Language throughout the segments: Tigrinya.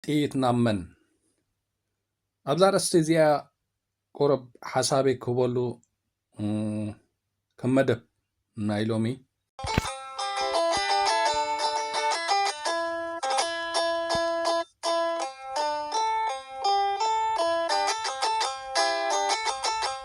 ጥይት ናብ መን? ኣብዛ ኣርእስቲ እዚኣ ቁሩብ ሓሳበይ ክህበሉ ከም መደብ ናይ ሎሚ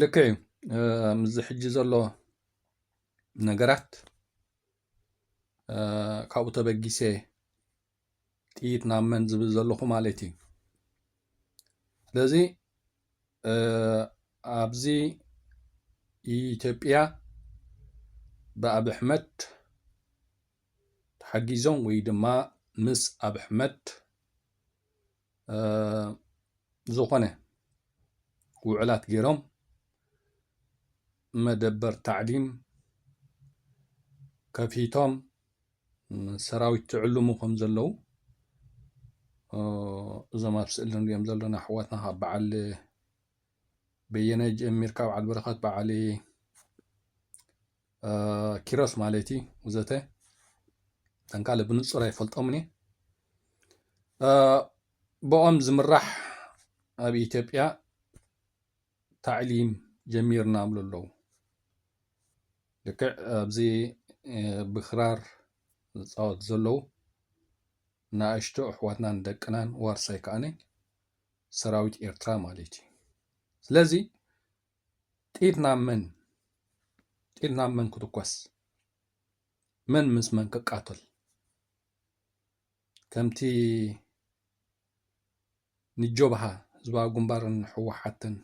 ልክዕ እዩ ምስዚ ሕጂ ዘሎ ነገራት ካብኡ ተበጊሰ ጥይት ናብ መን ዝብል ዘለኹ ማለት እዩ ስለዚ ኣብዚ ኢትዮጵያ ብኣብ ኣሕመድ ተሓጊዞም ወይ ድማ ምስ ኣብ ኣሕመድ ዝኾነ ውዕላት ገይሮም መደበር ታዕሊም ከፊቶም ሰራዊት ትዕልሙ ከም ዘለዉ እዞም ኣብ ስእሊ ንሪኦም ዘለና ኣሕዋትና ካብ በዓል በየነ ጀሚርካ በዓል በረኸት በዓል ኪሮስ ማለት እዩ ውዘተ እተን ካልእ ብንጹር ኣይፈልጦምን እየ ብኦም ዝምራሕ ኣብ ኢትዮጵያ ታዕሊም ጀሚርና ብሉ ኣለዉ ልክዕ ኣብዚ ብክራር ዝፃወት ዘለዉ ንኣሽቱ ኣሕዋትናን ደቅናን ዋርሳይ ከኣነ ሰራዊት ኤርትራ ማለት እዩ ስለዚ ጥይት ናብ መን ጥይት ናብ መን ክትኮስ መን ምስ መን ክቃተል ከምቲ ንጆብሃ ህዝባዊ ግንባርን ህወሓትን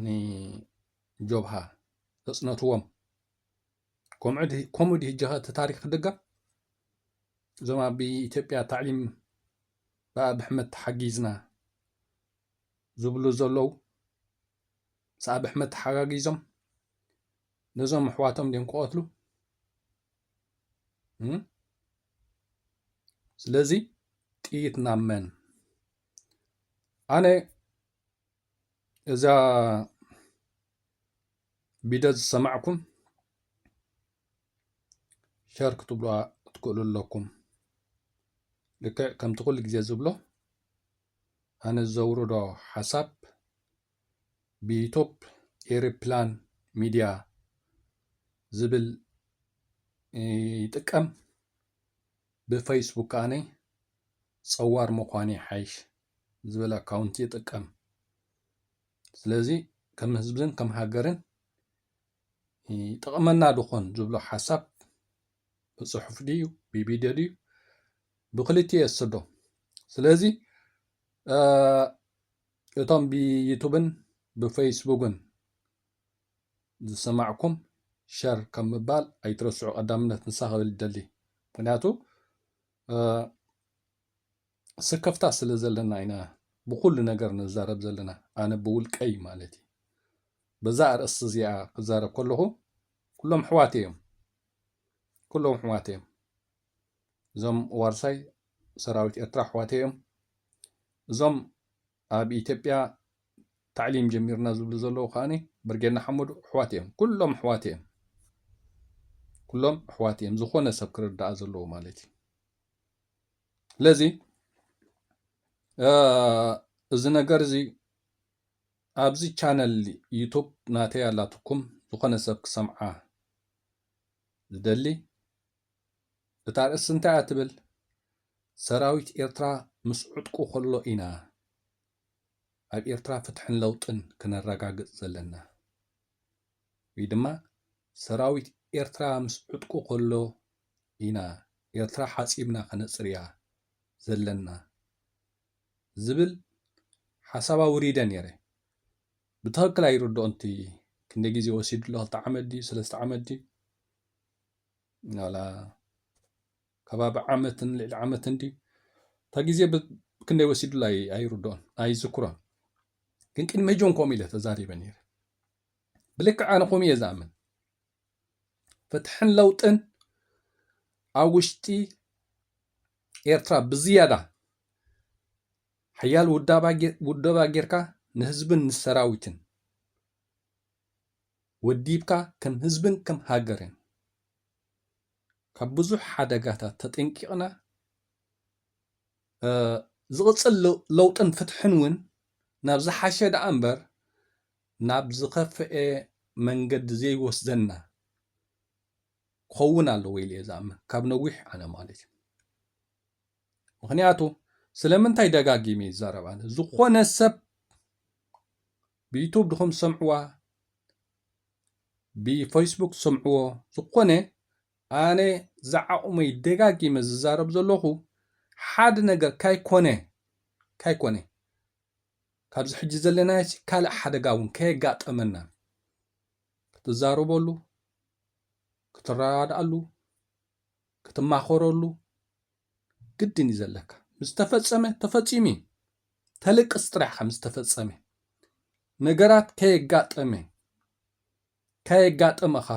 ንጆብሃ ዘፅነትዎም ከምኡ ድዩ ጀኸ እቲ ታሪክ ክድገም እዞም ኣብ ኢትዮጵያ ታዕሊም ብኣብ ኣሕመድ ተሓጊዝና ዝብሉ ዘለዉ ምስ ኣቢ ኣሕመድ ተሓጋጊዞም ነዞም ኣሕዋቶም ድዮም ክቐትሉ ስለዚ ጥይት ናብ መን ኣነ እዛ ቢደ ዝሰማዕኩም ሸር ክትብልዋ ትክእሉ ኣለኩም ልክዕ ከምቲ ኩሉ ግዜ ዝብሎ ኣነ ዘውርዶ ሓሳብ ብኢቶፕ ኤሪፕላን ሚድያ ዝብል ይጥቀም ብፈይስቡክ ከኣነ ጸዋር ምዃን ይሓይሽ ዝብል ኣካውንቲ ይጥቀም ስለዚ ከም ህዝብን ከም ሃገርን ይጠቕመና ድኾን ዝብሎ ሓሳብ ብጽሑፍ ድዩ ብቪድዮ ድዩ ብክልቲኡ የስዶ ስለዚ እቶም ብዩቱብን ብፌስቡክን ዝሰማዕኩም ሸር ከም ምባል ኣይትረስዑ ቀዳምነት ንሳ ክብል ይደሊ ምክንያቱ ስከፍታ ስለ ዘለና ኢና ብኩሉ ነገር ንዛረብ ዘለና ኣነ ብውልቀይ ማለት እዩ በዛ ኣርእስቲ እዚኣ ክዛረብ ከለኹ ኩሎም ኣሕዋት እዮም ኩሎም ኣሕዋተይ እዮም። እዞም ዋርሳይ ሰራዊት ኤርትራ ኣሕዋተይ እዮም። እዞም ኣብ ኢትዮጵያ ታዕሊም ጀሚርና ዝብሉ ዘለዉ ከዓ ብርጌድ ንሓመዱ ኣሕዋት እዮም። ኩሎም ኣሕዋት እዮም። ኩሎም ኣሕዋት እዮም። ዝኾነ ሰብ ክርዳኣ ዘለዎ ማለት እዩ። ስለዚ እዚ ነገር እዚ ኣብዚ ቻነል ዩቱብ ናተይ ኣላትኩም ዝኾነ ሰብ ክሰምዓ ዝደሊ እታ ኣርእስቲ እንታይ እያ ትብል ሰራዊት ኤርትራ ምስ ዕጥቁ ከሎ ኢና ኣብ ኤርትራ ፍትሕን ለውጥን ክነረጋግጽ ዘለና ወይ ድማ ሰራዊት ኤርትራ ምስ ዕጥቁ ከሎ ኢና ኤርትራ ሓጺብና ከነጽርያ ዘለና ዝብል ሓሳብ ኣውሪደ ኔረ ብትክክል ኣይርድኦን እቲ ክንደይ ግዜ ወሲዱ ኣሎ ክልተ ዓመት ድዩ ሰለስተ ዓመት ድዩ ዋላ ከባቢ ዓመትን ልዕሊ ዓመትን ድዩ እታ ግዜ ክንደይ ወሲዱ ኣሎ ኣይርድኦን ኣይዝክሮን ግን ቅድሚ ሕጆን ከምኡ ኢለ ተዛሪበ ነይረ ብልክዕ ኣነ ከምኡ እየ ዝኣምን ፍትሕን ለውጥን ኣብ ውሽጢ ኤርትራ ብዝያዳ ሓያል ውደባ ጌርካ ንህዝብን ንሰራዊትን ወዲብካ ከም ህዝብን ከም ሃገርን ካብ ብዙሕ ሓደጋታት ተጠንቂቕና ዝቕፅል ለውጥን ፍትሕን እውን ናብ ዝሓሸ ደኣ እምበር ናብ ዝኸፍኤ መንገዲ ዘይወስደና ክኸውን ኣለዎ ኢለ እየ ዝኣምን ካብ ነዊሕ ኣነ ማለት እዩ ምክንያቱ ስለምንታይ ደጋጊመ ይዛረብ ኣነ ዝኾነ ሰብ ብዩቱብ ድኹም ሰምዕዋ ብፌስቡክ ሰምዕዎ ዝኾነ ኣነ ዝዓቑመይ ደጋጊመ ዝዛረብ ዘለኹ ሓደ ነገር ካይኮነ ካይኮነ ካብዚ ሕጂ ዘለናዮሲ ካልእ ሓደጋ እውን ከየጋጠመና ክትዛረበሉ፣ ክትረዳድኣሉ፣ ክትማኸረሉ ግድን እዩ ዘለካ። ምስ ተፈጸመ ተፈጺሙ እዩ። ተልቅስ ጥራሕ ኢኻ ምስ ተፈጸመ። ነገራት ከየጋጠመ ከየጋጠመኻ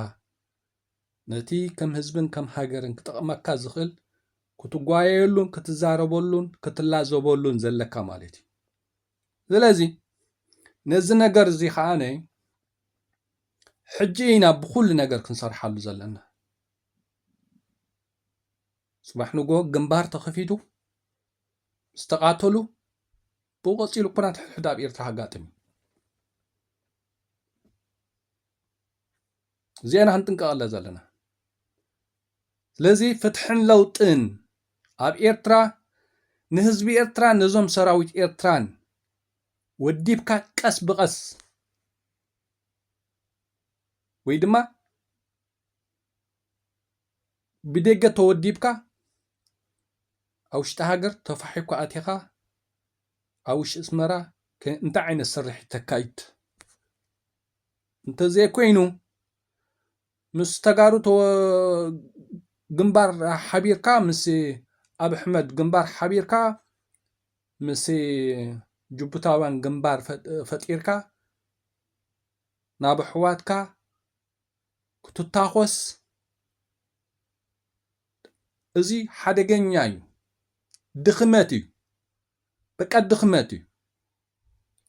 ነቲ ከም ህዝብን ከም ሃገርን ክጠቕመካ ዝኽእል ክትጓየየሉን ክትዛረበሉን ክትላዘበሉን ዘለካ ማለት እዩ ስለዚ ነዚ ነገር እዚ ከዓነ ሕጂ ኢና ብኩሉ ነገር ክንሰርሓሉ ዘለና ፅባሕ ንጎ ግንባር ተኸፊቱ ዝተቃተሉ ብኡ ቀፂሉ ኩናት ሕድሕድ ኣብ ኤርትራ ኣጋጥም እዩ እዚኣና ክንጥንቀቐለ ዘለና ስለዚ ፍትሕን ለውጥን ኣብ ኤርትራ ንህዝቢ ኤርትራን ነዞም ሰራዊት ኤርትራን ወዲብካ ቀስ ብቐስ ወይ ድማ ብደገ ተወዲብካ ኣብ ውሽጢ ሃገር ተፋሒኳ ኣቲኻ ኣብ ውሽጢ ኣስመራ እንታይ ዓይነት ስርሒት ተካይድ እንተዘይኮይኑ ምስ ተጋሩ ግንባር ሓቢርካ ምስ ኣብ ሕመድ ግንባር ሓቢርካ ምስ ጅቡታውያን ግንባር ፈጢርካ ናብ ኣሕዋትካ ክትታኾስ እዚ ሓደገኛ እዩ ድኽመት እዩ በቃ ድኽመት እዩ።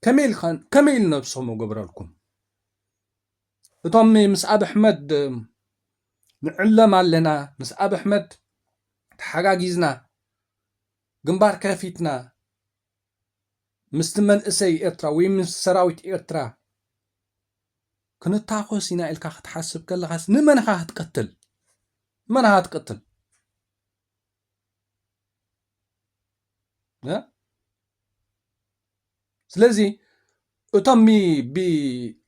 ከመይ ኢልካ ከመይ ኢሉ ነብሶም እገብረልኩም እቶም ምስ ኣብ ኣሕመድ ንዕለም ኣለና ምስ ኣብ ኣሕመድ ተሓጋጊዝና ግንባር ከፊትና ምስቲ መንእሰይ ኤርትራ ወይ ምስ ሰራዊት ኤርትራ ክንታኮስ ኢና ኢልካ ክትሓስብ ከለኻስ ንመን ኢኻ ክትቀትል መን ኢኻ ክትቀትል ስለዚ እቶም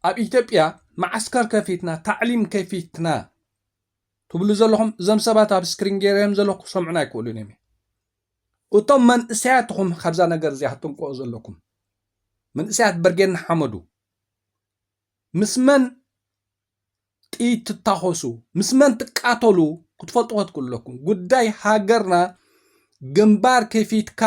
ኣብ ኢትዮጵያ መዓስከር ከፊትና ታዕሊም ከፊትና ትብሉ ዘለኹም እዞም ሰባት ኣብ ስክሪን ገይረዮም ዘለኹ ክሰምዑን ኣይክእሉን እዮም እቶም መንእሰያት ኹም ካብዛ ነገር እዚኣ ክትንቀኦ ዘለኩም መንእሰያት በርጌድ ንሓመዱ ምስ መን ጥይት ትታኾሱ ምስ መን ትቃተሉ ክትፈልጡ ከትክእሉ ኣለኩም። ጉዳይ ሃገርና ግንባር ከፊትካ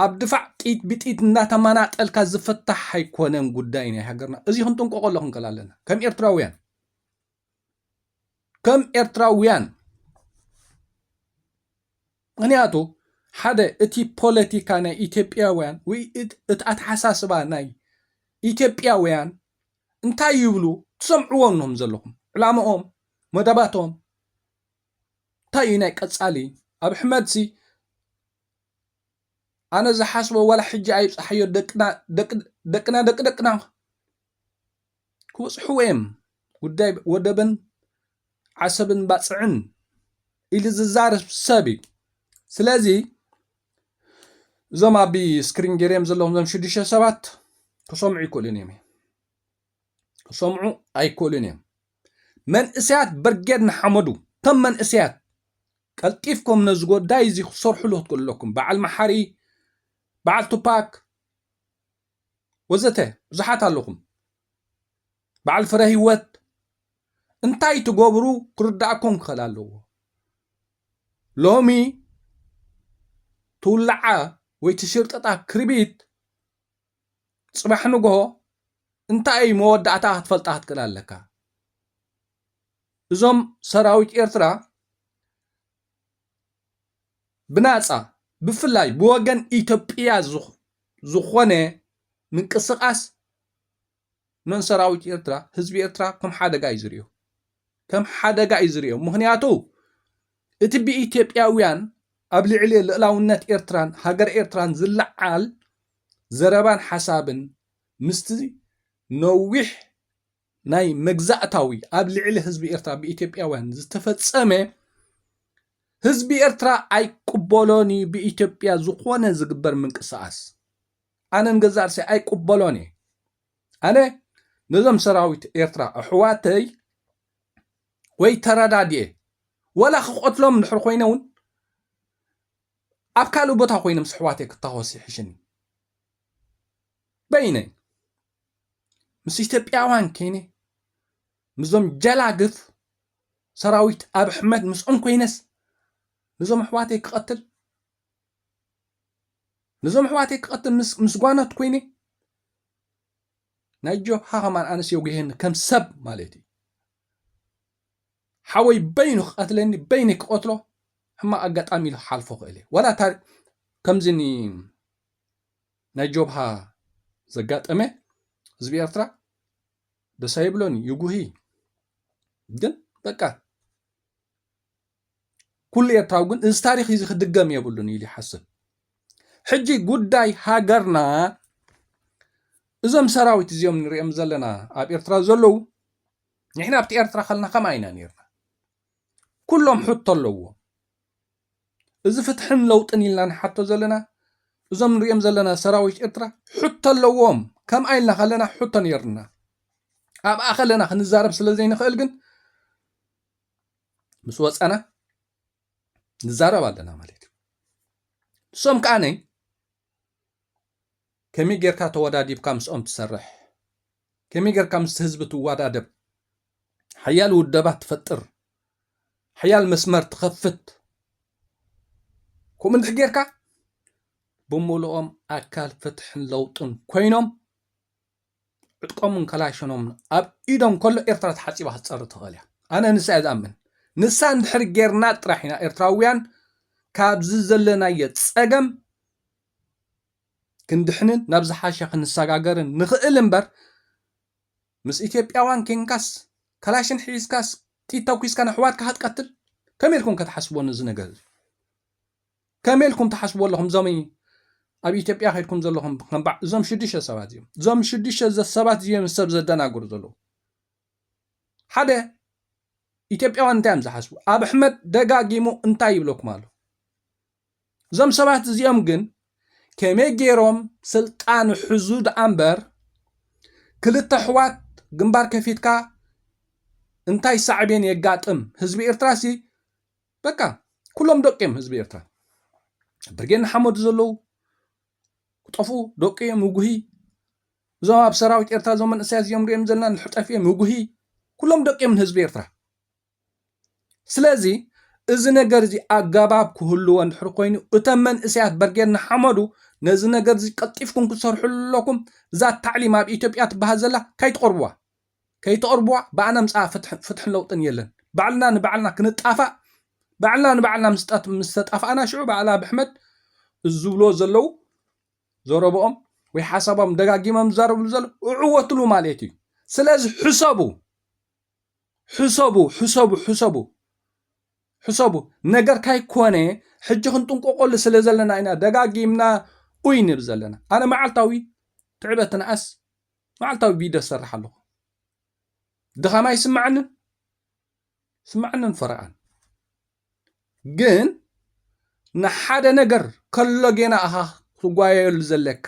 ኣብ ድፋዕ ጥይት ብጥይት እናተመናጠልካ ዝፍታሕ ኣይኮነን ጉዳይ ናይ ሃገርና። እዚ ክንጥንቀቆ ክንክእል ኣለና ከም ኤርትራውያን። ከም ኤርትራውያን ምክንያቱ ሓደ እቲ ፖለቲካ ናይ ኢትዮጵያውያን ወይ እቲ ኣተሓሳስባ ናይ ኢትዮጵያውያን እንታይ ይብሉ ትሰምዕዎ እኖም ዘለኹም ዕላማኦም መደባቶም እንታይ እዩ ናይ ቀጻሊ ኣብ ሕመድሲ ኣነ ዝሓስቦ ዋላ ሕጂ ኣይብጻሓዮ ደቅና ደቂ ደቅና ክበጽሕዎ'የም፣ ጉዳይ ወደብን ዓሰብን ባጽዕን ኢሉ ዝዛረብ ሰብ እዩ። ስለዚ እዞም ኣብ ስክሪን ገይረዮም ዘለኹም እዞም ሽዱሽተ ሰባት ክሰምዑ ኣይክእሉን እዮም ክሰምዑ ኣይክእሉን እዮም። መንእሰያት ብርጌድ ንሓመዱ ከም መንእሰያት ቀልጢፍኩም ነዚ ጉዳይ እዚ ክትሰርሕሉ ክትክእሉ ኣለኩም። በዓል መሓሪ፣ በዓል ቱፓክ፣ ወዘተ ብዙሓት ኣለኹም በዓል ፍረ ህይወት እንታይ ትገብሩ ክርዳእኩም ክኽእል ኣለዎ ሎሚ ትውላዓ ወይ ትሽርጥጣ ክርቢት ፅባሕ ንግሆ እንታይ እዩ መወዳእታ ክትፈልጣ ክትክእል ኣለካ እዞም ሰራዊት ኤርትራ ብናጻ ብፍላይ ብወገን ኢትዮጵያ ዝኾነ ምንቅስቃስ ንሰራዊት ኤርትራ ህዝቢ ኤርትራ ከም ሓደጋ እዩ ዝሪኦ ከም ሓደጋ እዩ ዝሪኦ ምክንያቱ እቲ ብኢትዮጵያውያን ኣብ ልዕሊ ልእላውነት ኤርትራን ሃገር ኤርትራን ዝለዓል ዘረባን ሓሳብን ምስቲ ነዊሕ ናይ መግዛእታዊ ኣብ ልዕሊ ህዝቢ ኤርትራ ብኢትዮጵያውያን ዝተፈጸመ ህዝቢ ኤርትራ ኣይቅበሎን እዩ ብኢትዮጵያ ዝኾነ ዝግበር ምንቅስቓስ ኣነ ንገዛእ ርእሰይ ኣይቅበሎን እየ ኣነ ነዞም ሰራዊት ኤርትራ ኣሕዋተይ ወይ ተረዳድየ ወላ ክቐትሎም ድሕሪ ኮይነ እውን ኣብ ካልእ ቦታ ኮይኖም ስሕዋተይ ክታወስ ይሕሽኒ በይነይ ምስ ኢትዮጵያውያን ኮይነ ምስዞም ጀላግፍ ሰራዊት ኣብ ኣሕመድ ምስኦም ኮይነስ ንዞም ኣሕዋተይ ክቐትል ንዞም ኣሕዋተይ ክቐትል ምስ ጓኖት ኮይነ ናይ ጆሃ ከማን ኣነስ የጉሄኒ ከም ሰብ ማለት እዩ ሓወይ በይኑ ክቐትለኒ በይኒ ክቐትሎ ሕማቕ ኣጋጣሚ ኢሉ ክሓልፎ ክእል እዩ ዋላ ከምዚ ናይ ጆብሃ ዘጋጠመ ህዝቢ ኤርትራ ደስ ኣይብሎን እዩ ይጉሂ ግን በቃ ኩሉ ኤርትራዊ ግን እዚ ታሪክ እዚ ክድገም የብሉን ኢሉ ይሓስብ ሕጂ ጉዳይ ሃገርና እዞም ሰራዊት እዚኦም ንሪኦም ዘለና ኣብ ኤርትራ ዘለዉ ንሕና ኣብቲ ኤርትራ ከለና ከምኣ ኢና ነርና ኩሎም ሕቶ ኣለዎም እዚ ፍትሕን ለውጥን ኢልና ንሓቶ ዘለና እዞም ንሪኦም ዘለና ሰራዊት ኤርትራ ሕቶ ኣለዎም ከምኣ ኢልና ከለና ሕቶ ነይርና ኣብኣ ከለና ክንዛረብ ስለ ዘይንኽእል ግን ምስ ወፀና ንዛረብ ኣለና ማለት እዩ ንሶም ከዓነይ ከመይ ጌርካ ተወዳዲብካ ምስኦም ትሰርሕ፣ ከመይ ጌርካ ምስቲ ህዝቢ ትዋዳደብ፣ ሓያል ውደባ ትፈጥር፣ ሓያል መስመር ትኸፍት፣ ከምኡ እንድሕር ጌርካ ብምልኦም ኣካል ፍትሕን ለውጥን ኮይኖም ዕጥቆምን ከላሽኖምን ኣብ ኢዶም ከሎ ኤርትራ ተሓጺባ ክትጸሪ ትኽእል እያ። ኣነ ንሳ እየ ዝኣምን። ንሳ እንድሕሪ ጌርና ጥራሕ ኢና ኤርትራውያን ካብዚ ዘለናዮ ጸገም ክንድሕንን ናብ ዝሓሸ ክንሰጋገርን ንኽእል እምበር ምስ ኢትዮጵያውያን ኬንካስ ከላሽን ሒዝካስ ጥይት ተኩስካ ንኣሕዋትካ ክትቀትል ከመይ ኢልኩም ከ ትሓስብዎ ነዚ ነገር እዚ ከመይ ኢልኩም ትሓስብዎ ኣለኹም እዞም ኣብ ኢትዮጵያ ከድኩም ዘለኹም ከምባዕ እዞም ሽዱሽተ ሰባት እዚኦም እዞም ሽዱሽተ ሰባት እዚኦም ሰብ ዘደናግሩ ዘለዉ ሓደ ኢትዮጵያውያን እንታይ እዮም ዝሓስቡ ኣብ ኣሕመድ ደጋጊሙ እንታይ ይብለኩም ኣሎ እዞም ሰባት እዚኦም ግን ከመይ ገይሮም ስልጣን ሕዙ ደኣ እምበር ክልተ ኣሕዋት ግንባር ከፊትካ እንታይ ሳዕቤን የጋጥም ህዝቢ ኤርትራሲ በቃ ኩሎም ደቂ እዮም ህዝቢ ኤርትራ ብርጌድ ንሓመዱ ዘለዉ ክጠፍኡ ደቂ እዮም ውጉሂ እዞም ኣብ ሰራዊት ኤርትራ እዞም መንእሰያት እዚኦም ሪኦም ዘለና ንሕጠፍ እዮም ውጉሂ ኩሎም ደቂ እዮም ንህዝቢ ኤርትራ ስለዚ እዚ ነገር እዚ ኣገባብ ክህልዎ እንድሕር ኮይኑ እቶም መንእሰያት በርጌድ ንሓመዱ ነዚ ነገር እዚ ቀልጢፍኩም ክትሰርሑ ኣለኩም እዛ ታዕሊም ኣብ ኢትዮጵያ ትበሃል ዘላ ካይትቐርብዋ ከይተቅርብዋ ብኣና ምጻኣ ፍትሕን ለውጥን የለን ባዕልና ንባዕልና ክንጣፋእ ባዕልና ንባዕልና ምስ ተጣፋእና ሽዑ ብኣል ኣብይ ኣሕመድ እዚ ዝብልዎ ዘለው ዘረብኦም ወይ ሓሳቦም ደጋጊሞም ዝዛረብሉ ዘሎ እዕወትሉ ማለት እዩ ስለዚ ሕሰቡ ሕሰቡ ሕሰቡ ሕሰቡ ሕሰቡ ነገር ካይኮነ ሕጂ ክንጥንቆቆሉ ስለ ዘለና ኢና ደጋጊምና ኡይ ንብ ዘለና ኣነ መዓልታዊ ትዕበትንኣስ መዓልታዊ ቪድዮ ዝሰርሕ ኣለኹ ድኻም ኣይስማዓንን ስማዓንን ፈረቓን ግን ንሓደ ነገር ከሎ ጌና ኣኻ ትጓየሉ ዘለካ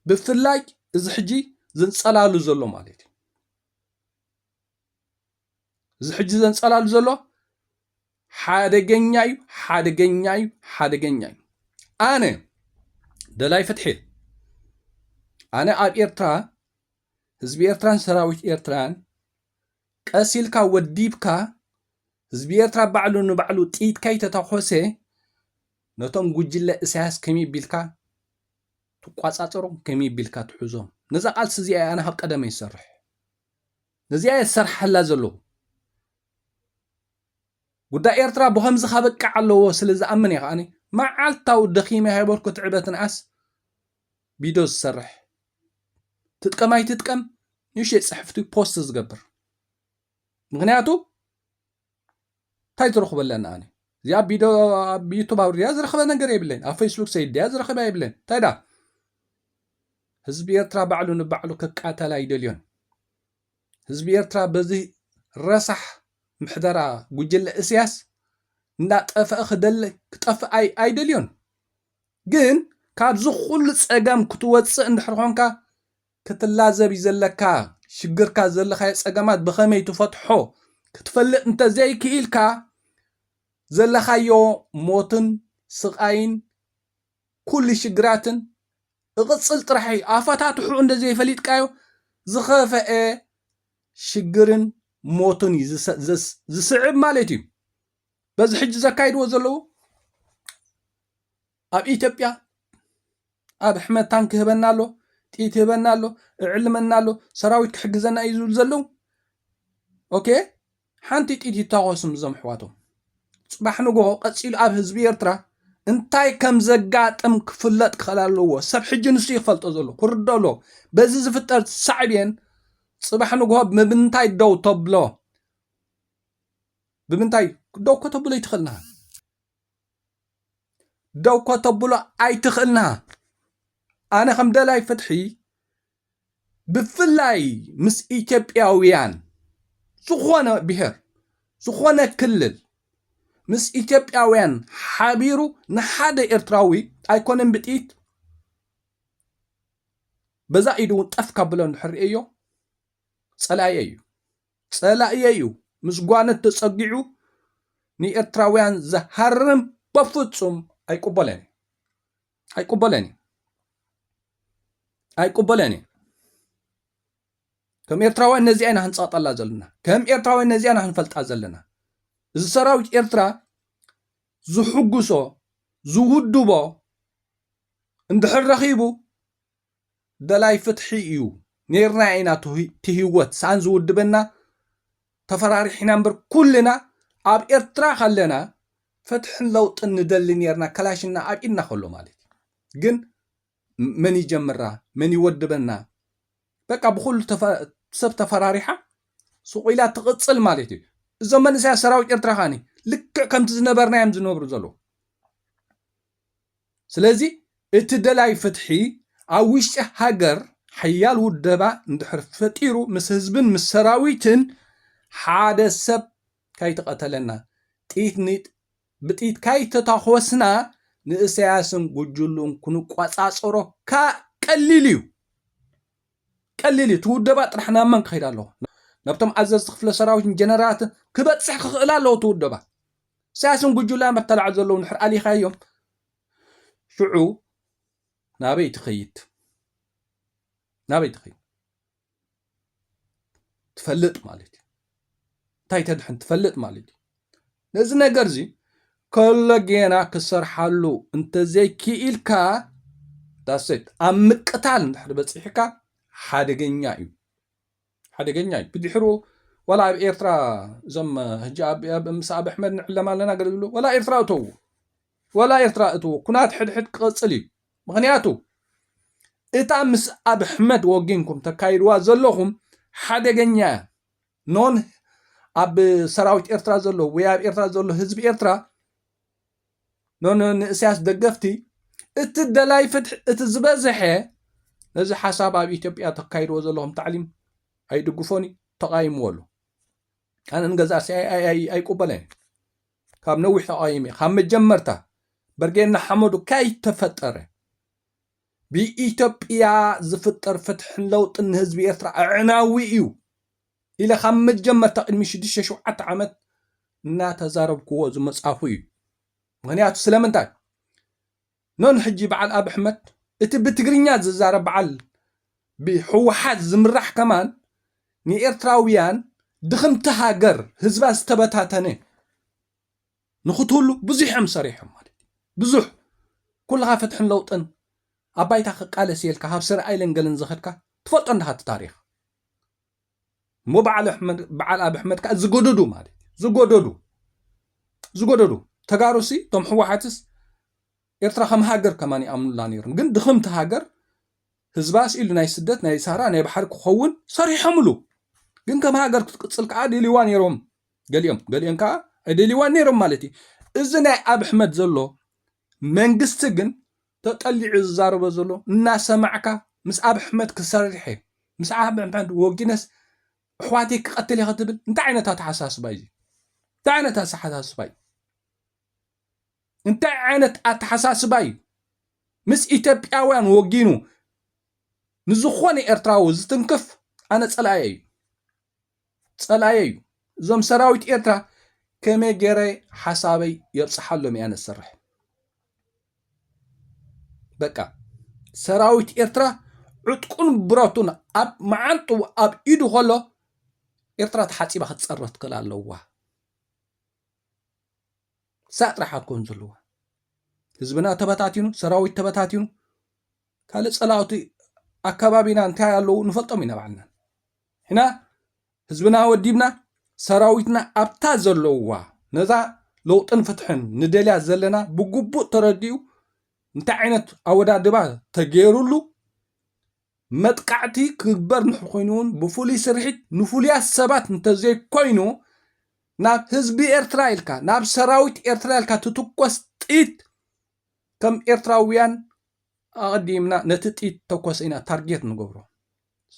ብፍላይ እዚ ሕጂ ዝንጸላሉ ዘሎ ማለት እዩ እዚ ሕጂ ዘንጸላሉ ዘሎ ሓደገኛ እዩ ሓደገኛ እዩ ሓደገኛ እዩ ኣነ ደላይ ፍትሒ ኣነ ኣብ ኤርትራ ህዝቢ ኤርትራን ሰራዊት ኤርትራን ቀስ ኢልካ ወዲብካ ህዝቢ ኤርትራ ባዕሉ ንባዕሉ ጥይት ከይተተኮሰ ነቶም ጉጅለ እሳያስ ከመይ ቢልካ ትቋፃፀሮም ከመይ ቢልካ ትሕዞም ነዛ ቃልሲ እዚኣ ኣነ ካብ ቀደመ ይሰርሕ ነዚኣ እየ ዝሰርሓላ ዘለኹ። ጉዳይ ኤርትራ ብኸምዚ ከበቅዕ ኣለዎ ስለ ዝኣምን እየ ከኣ መዓልታዊ ደኺመ ሃይበርኩ ትዕበ ትንኣስ ቪድዮ ዝሰርሕ ትጥቀም ኣይትጥቀም ንእሽተይ ጽሕፍቲ ፖስት ዝገብር ምክንያቱ እንታይ ዝረኽቦ ኣለኒ ኣነ እዚኣ ቢዶ ኣብ ዩቱብ ኣውርድያ ዝረኽበ ነገር የብለይ ኣብ ፌስቡክ ሰይድያ ዝረኽበ የብለይ እንታይ ዳ ህዝቢ ኤርትራ ባዕሉ ንባዕሉ ክቃተል ኣይደልዮን ህዝቢ ኤርትራ በዚ ረሳሕ ምሕደራ ጉጅለ እስያስ እንዳጠፍአ ክደለ ክጠፍእ ኣይደልዮን ግን ካብዚ ኩሉ ፀገም ክትወፅእ እንድሕር ኮንካ ክትላዘብ እዩ ዘለካ ሽግርካ ዘለካዮ ጸገማት ብከመይ ትፈትሖ ክትፈልጥ እንተዘይ ክኢልካ ዘለካዮ ሞትን ስቃይን ኩሉ ሽግራትን እቕጽል ጥራሕ እዩ ኣፈታትሑ እንደዘይ ፈሊጥካዮ ዝኸፈኤ ሽግርን ሞትን እዩ ዝስዕብ ማለት እዩ በዚ ሕጂ ዘካይድዎ ዘለዉ ኣብ ኢትዮጵያ ኣብ ኣሕመድ ታንክ ይህበና ኣሎ ጥይት ይህበና ኣሎ እዕልመና ኣሎ ሰራዊት ክሕግዘና እዩ ዝብሉ ዘለዉ ኦኬ ሓንቲ ጥይት ይታኮስም እዞም ኣሕዋቶም ፅባሕ ንግሆ ቀፂሉ ኣብ ህዝቢ ኤርትራ እንታይ ከም ዘጋጥም ክፍለጥ ክኽእል ኣለዎ ሰብ ሕጂ ንሱ ይፈልጦ ዘሎ ክርዶ ኣሎ በዚ ዝፍጠር ሳዕቤን ፅባሕ ንግሆ ብምንታይ ደው ተብሎ ብምንታይ ደው ከተብሎ ይትኽእልና ደው ከተብሎ ኣይትኽእልንሃ ኣነ ከም ደላይ ፍትሒ ብፍላይ ምስ ኢትዮጵያውያን ዝኾነ ብሔር ዝኾነ ክልል ምስ ኢትዮጵያውያን ሓቢሩ ንሓደ ኤርትራዊ ኣይኮነን ብጥይት በዛ ኢዱ እውን ጠፍ ካብሎ እንድሕር ርእዮ ፀላኢ እዩ ጸላኢየይ'ዩ ምስ ጓኖት ተጸጊዑ ንኤርትራውያን ዝሃርም በፍጹም ኣይቅበሎን ኢዩ። ኣይቅበሎን ኢዩ። ኣይቅበሎን ኢዩ። ከም ኤርትራውያን ነዚኣ ኢና ክንጸቕጠላ ዘለና። ከም ኤርትራውያን ነዚኣ ኢና ክንፈልጣ ዘለና። እዚ ሰራዊት ኤርትራ ዝሕጉሶ ዝውድቦ እንድሕር ረኺቡ ደላይ ፍትሒ ኢዩ ኔርና ኢና ትሂወት ሳን ዝውድበና ተፈራሪሕና እምበር ኩልና ኣብ ኤርትራ ከለና ፍትሕን ለውጥን ንደሊ ኔርና ከላሽና ኣብ ኢድና ከሎ ማለት ኢዩ ግን መን ይጀምራ መን ይወድበና በቃ ብኩሉ ሰብ ተፈራሪሓ ስቁኢላ ትቅጽል ማለት ኢዩ እዞም መንእሰያት ሰራዊት ኤርትራ ካኒ ልክዕ ከምቲ ዝነበርና ኢዮም ዝነብሩ ዘለዉ ስለዚ እቲ ደላይ ፍትሒ ኣብ ውሽጢ ሃገር ሓያል ውደባ እንድሕር ፈጢሩ ምስ ህዝብን ምስ ሰራዊትን ሓደ ሰብ ካይተቐተለና፣ ጥይት ብጥይት ካይተታኾስና ንእሰያስን ጉጅልኡን ክንቆጻጸሮ ካእ ቀሊል እዩ። ቀሊል እዩ። እቲ ውደባ ጥራሕ ናብ መን ክኸይድ ኣለዎ? ናብቶም ኣዘዝቲ ክፍለ ሰራዊትን ጀነራላትን ክበጽሕ ክኽእል ኣለዎ እቲ ውደባ። ኢሳያስን ጉጁላን ኣተላዕሉ ዘለዉ ንሕር ኣሊኻዮም ሽዑ ናበይ ትኸይድ ናበይ ትኸይድ ትፈልጥ ማለት እዩ እንታይ ተድሕን ትፈልጥ ማለት እዩ ነዚ ነገር እዚ ከሎ ጌና ክሰርሓሉ እንተዘይክኢልካ ዳሴት ኣብ ምቅታል እንድሕር በፂሕካ ሓደገኛ እዩ ሓደገኛ እዩ ብድሕሩ ዋላ ኣብ ኤርትራ እዞም ህጂ ኣብ ምስ ኣብ ኣሕመድ ንዕለም ኣለና ገለ ዝብሉ ዋላ ኤርትራ እተዉ ዋላ ኤርትራ እትዉ ኩናት ሕድሕድ ክቐጽል እዩ ምክንያቱ እታ ምስ ኣብ ኣሕመድ ወጊንኩም ተካይድዋ ዘለኹም ሓደገኛ እያ ኖን ኣብ ሰራዊት ኤርትራ ዘሎ ወይ ኣብ ኤርትራ ዘሎ ህዝቢ ኤርትራ ኖኖ ንእስያስ ደገፍቲ እቲ ደላይ ፍትሒ እቲ ዝበዝሐ ነዚ ሓሳብ ኣብ ኢትዮጵያ ተካይድዎ ዘለኹም ታዕሊም ኣይድግፎን እዩ ተቃይምዎ ኣሎ ኣነ ንገዛእሲ ኣይቁበለን እዩ ካብ ነዊሕ ተቃይም እዩ ካብ መጀመርታ በርጌድ ንሓመዱ ከይተፈጠረ ብኢትዮጵያ ዝፍጠር ፍትሕን ለውጥን ንህዝቢ ኤርትራ ኣዕናዊ እዩ ኢለ ካብ መጀመርታ ቅድሚ ሽዱሽተ ሸውዓተ ዓመት እናተዛረብክዎ ዝመጻኹ እዩ። ምክንያቱ ስለምንታይ ኖን ሕጂ በዓል ኣብ ኣሕመድ እቲ ብትግርኛ ዝዛረብ በዓል ብሕወሓት ዝምራሕ ከማን ንኤርትራውያን ድኽምቲ ሃገር ህዝባ ዝተበታተነ ንክትህሉ ብዙሕ እዮም ሰሪሖም ማለት እዩ። ብዙሕ ኩልኻ ፍትሕን ለውጥን ኣብ ባይታ ክቃለስ እየ ኢልካ ካብ ሰር ኣይለን ገለን ዝኸድካ ትፈልጦ እንድኻ እቲ ታሪኽ እሞ በዓል ኣሕመድ በዓል ኣብ ኣሕመድ ከኣ ዝጎደዱ ማለት እዩ። ዝጎደዱ ዝጎደዱ ተጋሩሲ እቶም ህወሓትስ ኤርትራ ከም ሃገር ከማን ይኣምኑላ ነይሮም ግን ድኽምቲ ሃገር ህዝባ ስኢሉ ናይ ስደት ናይ ሳራ ናይ ባሕሪ ክኸውን ሰሪሖምሉ ግን ከም ሃገር ክትቅፅል ከዓ ደልይዋ ነይሮም ገሊኦም ገሊኦም ከዓ ኣይደልይዋን ነይሮም ማለት እዩ እዚ ናይ ኣብ ኣሕመድ ዘሎ መንግስቲ ግን ተጠሊዑ እዩ ዝዛረቦ ዘሎ እናሰማዕካ ምስ ኣብ ኣሕመድ ክሰርሕ እየ ምስ ኣብ ኣሕመድ ወጊነስ ኣሕዋተይ ክቐትል እየ ክትብል እንታይ ዓይነት ኣተሓሳስባ እዩ እንታይ ዓይነት ኣተሓሳስባ እዩ እንታይ ዓይነት ኣተሓሳስባ እዩ ምስ ኢትዮጵያውያን ወጊኑ ንዝኾነ ኤርትራዊ ዝትንክፍ ኣነ ጸላኢ እዩ ጸላኤዩ እዞም ሰራዊት ኤርትራ ከመይ ገረ ሓሳበይ የብጽሓሎም እያ ነሰርሕ በቃ ሰራዊት ኤርትራ ዕጥቁን ብረቱን ኣብ መዓንጡ ኣብ ኢዱ ከሎ ኤርትራ ተሓፂባ ክትፀረ ትክእል ኣለዋ ሳእ ጥራሕ ኣኮን ዘለዋ ህዝብና ተበታቲኑ ሰራዊት ተበታቲኑ ካልእ ፀላውቲ ኣከባቢና እንታይ ኣለዉ ንፈልጦም ኢና ባዕልና ንሕና ህዝብና ወዲብና ሰራዊትና ኣብታ ዘለውዋ ነዛ ለውጥን ፍትሕን ንደልያ ዘለና ብግቡእ ተረዲኡ እንታይ ዓይነት ኣወዳድባ ተገይሩሉ መጥቃዕቲ ክግበር ንሕ ኮይኑ እውን ብፍሉይ ስርሒት ንፍሉያት ሰባት እንተዘይኮይኑ ናብ ህዝቢ ኤርትራ ኢልካ ናብ ሰራዊት ኤርትራ ኢልካ ትትኮስ ጥይት ከም ኤርትራውያን ኣቐዲምና ነቲ ጥይት ተኮሰ ኢና ታርጌት ንገብሮ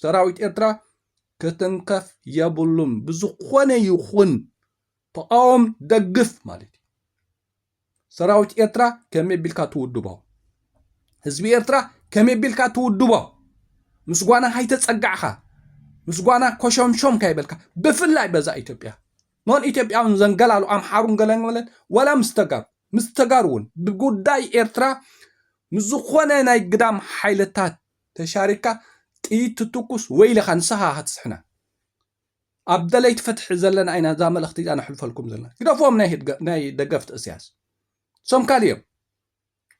ሰራዊት ኤርትራ ክትንከፍ የብሉን ብዝኾነ ይኹን ተቃወም ደግፍ ማለት እዩ ሰራዊት ኤርትራ ከመይ ቢልካ ትውድቦ ህዝቢ ኤርትራ ከመይ ቢልካ ትውድቦ ምስ ጓና ሃይተጸጋዕኻ ምስ ጓና ኮሸምሾም ካይበልካ ብፍላይ በዛ ኢትዮጵያ ኖን ኢትዮጵያውን ዘንገላሉ ኣምሓሩን ገለንገለን ወላ ምስ ተጋሩ ምስ ተጋሩ እውን ብጉዳይ ኤርትራ ምስ ዝኾነ ናይ ግዳም ሓይልታት ተሻሪካ ጥይት ትትኩስ ወይለኻ ንስኻ ኢኻ ትስሕና ኣብ ደለይቲ ፍትሒ ዘለና ኢና እዛ መልእኽቲ እዚኣ ነሕልፈልኩም ዘለና ግደፍዎም ናይ ደገፍቲ እስያስ ሶም ካልዮም